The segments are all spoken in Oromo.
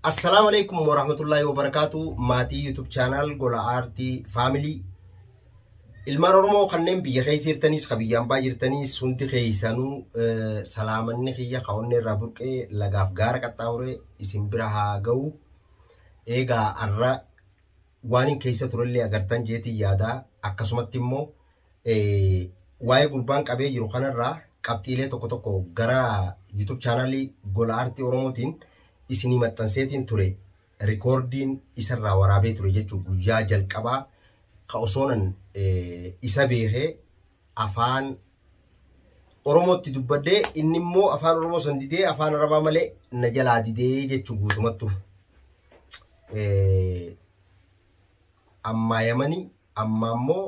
Assalaamu alaikum warahmatullaahi wabarakaatu maatii YouTube chaanaal gola aartii faamilii ilmaan Oromoo kanneen biyya keessa jirtanis ka biyya ambaa jirtanis hundi keessanuu salaamanni kiyya kaa'onni irraa burqee lagaaf gaara qaxxaamuree isin bira haa ga'u eegaa arra waanin keessa turellee agartan jeetiin yaadaa akkasumatti immoo waa'ee gurbaan qabee jiru kanarraa qabxiilee tokko tokko gara YouTube chaanaalii Gola Aartii Oromootiin isinii maxxanseetiin ture rikoordiin isarraa waraabee ture jechuun guyyaa jalqabaa ka osoonan isa beekee afaan Oromootti dubbadhee inni immoo afaan Oromoo san didee afaan Arabaa malee na jalaa didee jechuu guutumattu. Ammaa Yamanii ammaa immoo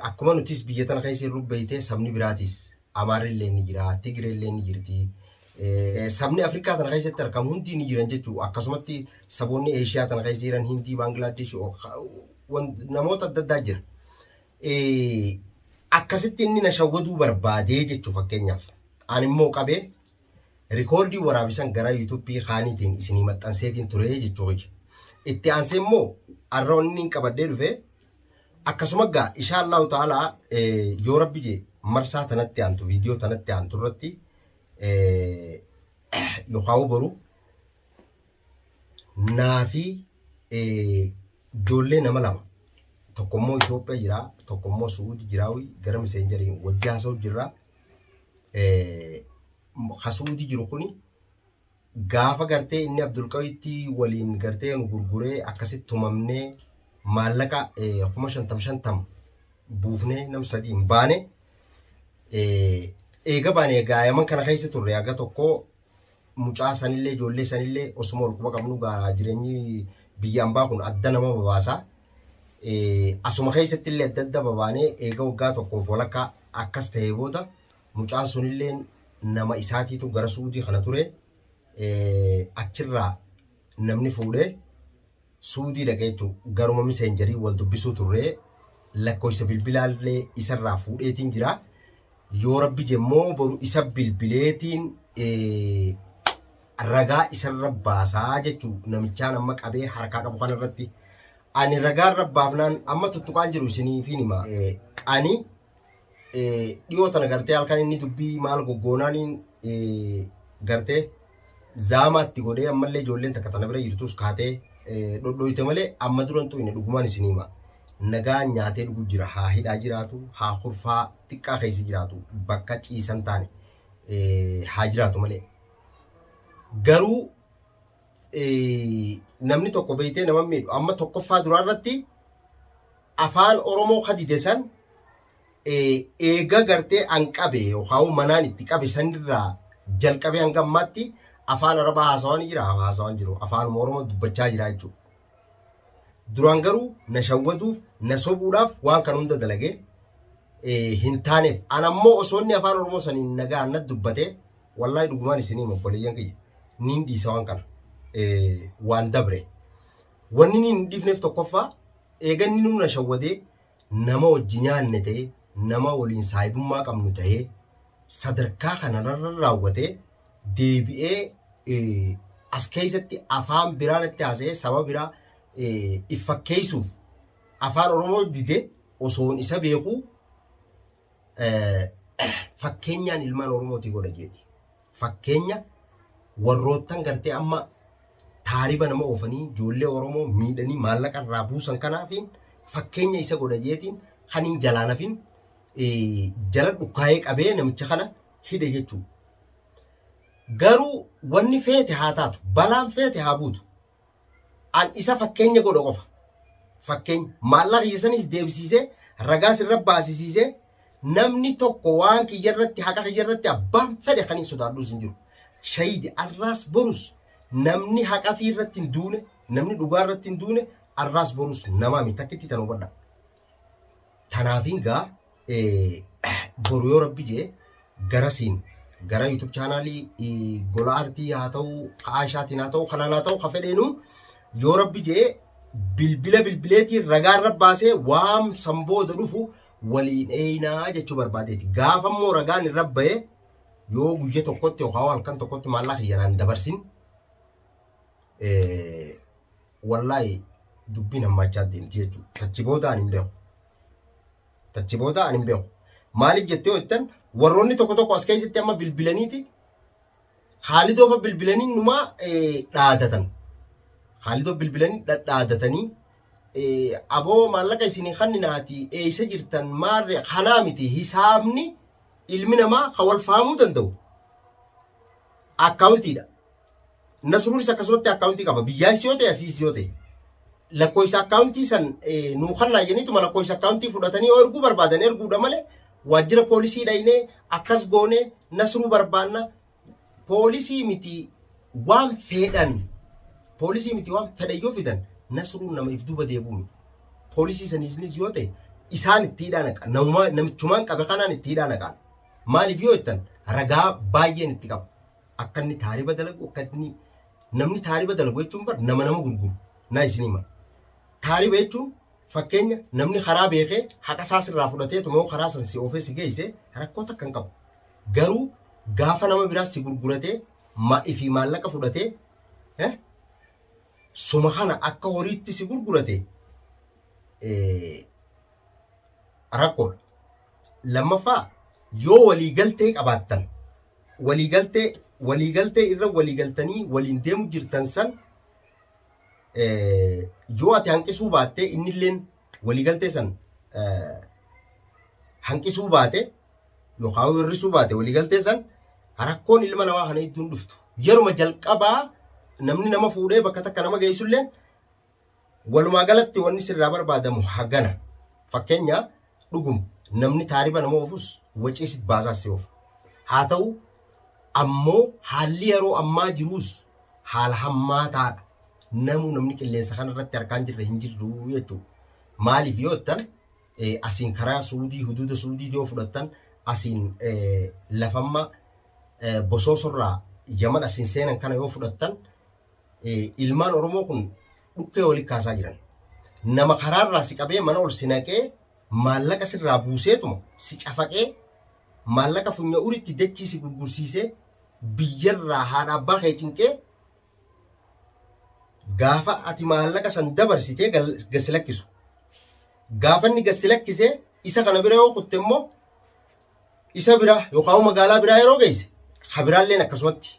akkuma nutis biyya tana keessa hin rubbeeytee sabni biraatis Amaarri illee ni jira, Tigiree illee ni jirti. Sabni Afrikaa tana keessatti argamu hundi ni jiran jechuudha. Akkasumatti saboonni Eeshiyaa tana keessa jiran Hindii, Baangilaadesh namoota adda addaa jira. akkasitti inni na shawwaduu barbaadee jechuu fakkeenyaaf aan immoo qabee rikoordii waraabisan gara yuutuubii kaaniitiin isinii maxxanseetiin turee jechuu hojje. Itti aansee immoo arra inni qabadhee dhufee akkasuma gaa ishaa Allahu ta'ala yoo rabbi jee marsaa tanatti aantu viidiyoo tanatti aantu irratti yookaan boru naa fi ijoollee nama lama tokko immoo Itoophiyaa jira tokko immoo Suudi jira gara miseenjariin wajji haasa'u jirra. Ka Suudi jiru kuni gaafa gartee inni Abdulqawiitti waliin gartee nu gurguree akkasitti tumamnee maallaqa kuma shantam shantam buufnee nam sadiin baane eega baane egaa yaman kana keessa turre haga tokkoo mucaa sanillee ijoollee sanillee osuma ol quba qabnu gaa jireenyi biyya ambaa kun adda nama babaasa. Eh, Asuma keessatti illee adda adda babaanee eega waggaa tokkoof walakkaa akkas ta'ee booda mucaan sunillee nama isaatiitu gara suudii kana ture. Eh, Achirraa namni fuudhee Suudii dhaqa jechuun garuma miseenjarii wal dubbisuu turree lakkoofsa bilbilaallee isarraa fuudheetiin jira. Yoo rabbi jemmoo boru isa bilbileetiin ragaa isarra baasaa jechuu namichaan amma qabee harkaa qabu kanarratti. Ani ragaa irra baafnaan amma tuttuqaan jiru isiniifiin hima. Ani dhiyoo tana gartee halkan inni dubbii maal goggoonaaniin gartee zaamaatti godhee ammallee ijoolleen takka tana bira jirtus kaatee dhodhooyte malee amma durantu inni dhugumaan isin hima. Nagaan nyaatee dhugu jira haa hidhaa jiraatu haa kurfaa xiqqaa keessa jiraatu bakka ciisan taane haa jiraatu malee. Garuu namni tokko beektee nama miidhu amma tokkoffaa duraa irratti afaan oromoo kadide san eega gartee an qabe yookaan manaan itti qabe sanirraa jalqabee hanga ammaatti afaan arabaa haasawaa ni jira haasawaa jiru afaan oromoo dubbachaa jira jechuudha. Duraan garuu na shawwaduuf, na sobuudhaaf waan kan hunda dalage hin taaneef. An ammoo osoo inni afaan Oromoo saniin nagaan na dubbate wallahi dhugumaan isinii obboleeyyan kiyya niin dhiisa waan kana waan dabre. Wanni niin hin dhiifneef tokkoffaa eeganni nu na shawwadee nama wajji nyaanne ta'e nama waliin saahibummaa qabnu ta'ee sadarkaa kanarra raawwatee deebi'ee as keessatti afaan biraa natti haasa'ee saba biraa if fakkeessuuf afaan Oromoo dide osoon isa beeku fakkeenyaan ilmaan Oromootii godha jeeti. Fakkeenya warroottan gartee amma taariba nama oofanii ijoollee Oromoo miidhanii maallaqa irraa buusan kanaafiin fakkeenya isa godha jeetiin kan hin jalaanafin jala dhukkaa'ee qabee namicha kana hidhe jechuudha. Garuu wanni feete haa taatu, balaan feete haa buutu. An isa fakkeenya godha qofa. Fakkeenya maallaqa kiyya sanis deebisiisee ragaa sirra baasisiisee namni tokko waan kiyya irratti haqa kiyya irratti abbaan fedhe kan hin sodaadhus hin jiru. Shahiidi arraas borus namni haqa fi irratti hin duune namni dhugaa irratti hin duune arraas borus namaa miti takkitti tan hubadha. Tanaafiin gaa boru yoo rabbi jee garasiin gara YouTube chaanaalii gola artii haa ta'u ka'aa ishaatiin haa ta'u kanaan haa ta'u ka fedheenu yoo rabbi jee bilbila bilbileetiin ragaa irra baasee waan san booda dhufu waliin eeynaa jechuu barbaadeeti. Gaafa immoo ragaan irra bahee yoo guyya tokkotti yookaan halkan tokkotti maallaqa kiyyanaan dabarsin wallaahi dubbiin hammaachaa deemti jechuudha. Tachi booda ani hin beeku. Tachi booda ani hin beeku. Maaliif jettee yoo jettan warroonni tokko tokko as keessatti amma bilbilaniiti haalidoo fa bilbilanii numaa dhaadatan. Haalidoo bilbilanii dhadhaadatanii aboo maallaqa isinii kanninaati eeysa jirtan maarre kanaa miti hisaabni ilmi namaa kan wal fahamuu danda'u akkaawuntiidha. Nasruunis akkasumatti akkaawuntii qaba. Biyyaayis yoo ta'e asiis yoo ta'e. Lakkoofsa akkaawuntii san nuu kannaa jeniituma lakkoofsa akkaawuntii fudhatanii yoo erguu barbaadan erguudha malee waajjira poolisii dhaynee akkas goonee nasruu barbaanna poolisii miti waan fedhan poolisii miti waan fedhan yoo fidan nasruun nama if duuba deebi'uun poolisii saniisnis yoo ta'e isaan itti hidhaa naqan namichumaan qabe kanaan itti hidhaa naqan maaliif yoo jettan ragaa baay'een itti qaba. akka inni taariba dalagu akka inni namni taariba dalagu jechuun bar nama nama gurguru naa isin hima taariba jechuun fakkeenya namni karaa beekee haqa isaa sirraa fudhatee tumoo karaa san si oofee si geesse rakkoo takka hin qabu garuu gaafa nama biraa si gurguratee ma ifi maallaqa fudhatee eh, suma kana akka horiitti si gurgurate eh, rakkoodha. Lammaffaa yoo waliigaltee qabaattan waliigaltee waliigaltee irra waliigaltanii waliin deemu jirtan san eh, yoo ati hanqisuu baattee innilleen waliigaltee san eh, hanqisuu baate yookaan hir'isuu baate waliigaltee san rakkoon ilma namaa kana hedduun dhuftu. Yeruma jalqabaa namni nama fuudhee bakka takka nama geessullee Walumaa galatti wanni sirraa barbaadamu hagana. Fakkeenya dhuguma namni taariba nama oofus wacee si baasaa si oofa. Haa ta'u ammoo haalli yeroo ammaa jiruus haala hammaataadha. Namuu namni qilleensa kana irratti harkaan jirre hin jirru jechuudha. Maaliif yoo jettan asiin karaa suudii huduuda suudii yoo fudhattan asiin lafamma bosoosorraa yaman asiin seenan kana yoo fudhattan ilmaan Oromoo kun dhukkee walitti kaasaa jiran. Nama karaarraa si qabee mana ol si naqee maallaqa sirraa buuseetuma si cafaqee maallaqa funya uritti dachii si gurgursiisee biyyarraa haadha abbaa kee cinqee gaafa ati maallaqa san dabarsitee gasi lakkisu. Gaafa inni gasi lakkisee isa kana bira yoo kutte immoo isa bira yookaan magaalaa biraa yeroo geesse ka biraalleen akkasumatti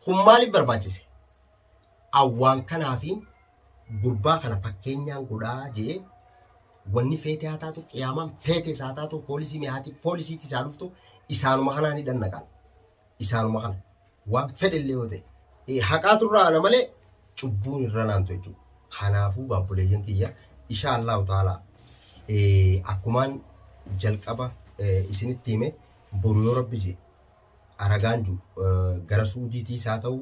kun maaliif barbaachise? Awwaan kanaa fi gurbaa kana fakkeenyaan godhaa jee wanni feetee haa taatu qiyaamaan feetee isaa taatu poolisii mi'aati poolisiitti isaa dhuftu isaanuma kanaan hidhan naqan. isaanuma kana. Waan fedhellee yoo ta'e. Eh, Haqaatu irraa ana malee cubbuun irra naantu jechuudha. Kanaafuu baabboleeyyan tiyya ishaa Allahu ta'ala eh, akkumaan jalqaba eh, isinitti hime boru yoo rabbi jee aragaan ju eh, gara suudiitiis haa ta'u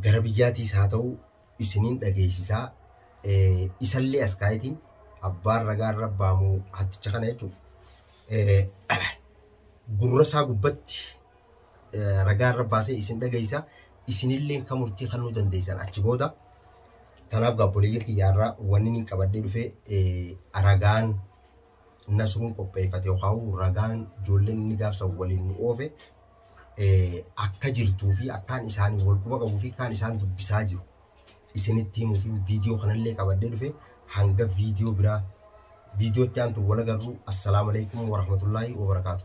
gara biyyaatiis haa ta'u isinin dhageessisaa isallee as kaa'eeti abbaan ragaa irra baamu hatticha kana jechuudha. Gurra isaa gubbatti ragaa irra baasee isin dhageessisa isinillee kan murtii kennuu dandeessan achi booda tanaaf gaabboleeyyan kiyyaarraa wanni inni qabadhee dhufee ragaan Nasruun qopheeffate yookaan ragaan ijoolleen inni gaaf san waliin nu oofe akka jirtuu fi akkaan isaanii wal quba qabuu fi akkaan isaan dubbisaa jiru isinitti himuu fi viidiyoo kanallee qabadhee dhufe hanga viidiyoo biraa viidiyootti aantu wal agarru assalaamu alaikum warahmatullaahi wabarakaatu.